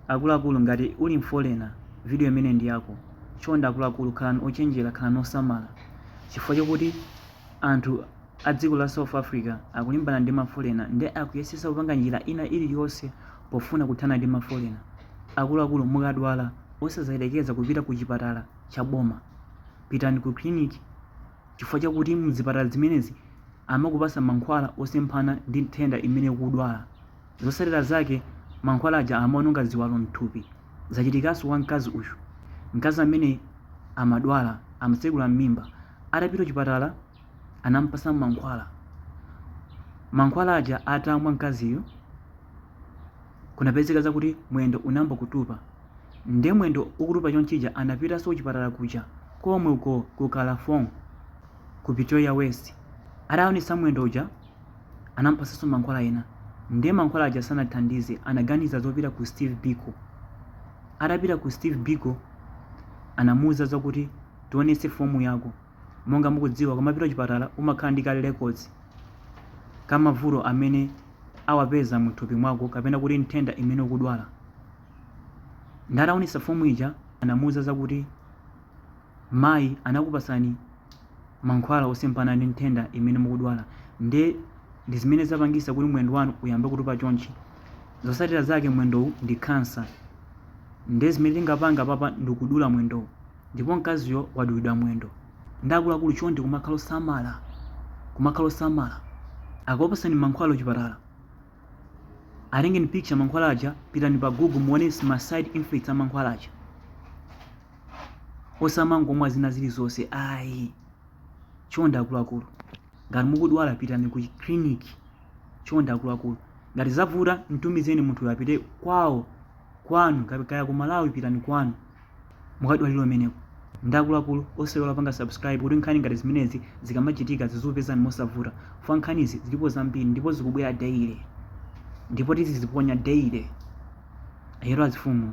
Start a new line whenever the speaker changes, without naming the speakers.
Akuluakulu ngati uli mfolena video imene ndi yako chonde akuluakulu khalani ochenjera khalani osamala chifukwa chokuti anthu adziko la south africa akulimbana ndi mafolena ndi akuyesesa kupanga njira ina iliyonse pofuna kuthana ndi mafolena akuluakulu mukadwala osazayelekeza kupita ku chipatala cha boma pitani ku clinic chifukwa chakuti mzipatala zimenezi amakupasa mankhwala osemphana ndi nthenda imene ukudwala. Zotsatira zake mankhwala aja amaononga ziwalo mthupi. Zachitikanso wa mkazi uyu. Mkazi amene amadwala amatsekula m'mimba. Atapita chipatala anampatsa mankhwala. Mankhwala aja atamwa mkaziyu kunapezeka zakuti mwendo unayamba kutupa. Nde mwendo ukutupa chonchija anapitanso chipatala kuja komwe ku Kalafong ku Pretoria West. Ataonetsa mwendo uja Anampatsanso mankhwala ena. Ndiye mankhwala aja sanathandize, anaganiza zopita ku Steve Biko. Atapita ku Steve Biko, anamuuza zakuti tionetse fomu yako. Monga mukudziwa, ukamapita chipatala umakhala ndi ka records ka mavuto amene awapeza muthupi mwako kapena kuti nthenda imene ukudwala. Nde ataonetsa fomu ija, anamuuza zakuti mayi anakupatsani mankhwala osemphana ndi nthenda imene mukudwala nde ndi zimene zapangisa kuti mwendo wanu uyambe kutupa chonchi zosatira zake mwendowu ndi khansa nde zimene tingapanga papa ndikudula mwendowu ndipo mkaziyo wadulidwa mwendo nde akuluakulu chonde kumakhala osamala kumakhala osamala akakupasani mankhwala kuchipatala atengeni picture mankhwala aja pitani pa google muone ma side effects a mankhwala aja osamangomwa zina zilizonse ayi chonde akuluakulu ngati mukudwala pitani ku clinic chonde akuluakulu ngati zavuta mtumizeni munthuyo apite kwawo kwanu kaya ku malawi pitani kwanu mukadwalire kumeneko nde akuluakulu osaiwala kupanga subscribe kuti nkhani ngati zimenezi zikamachitika zizikupezani mosavuta chifukwa nkhanizi zilipo zambiri ndipo zikubwera daily ndipo tiziziponya daily ayero azifumu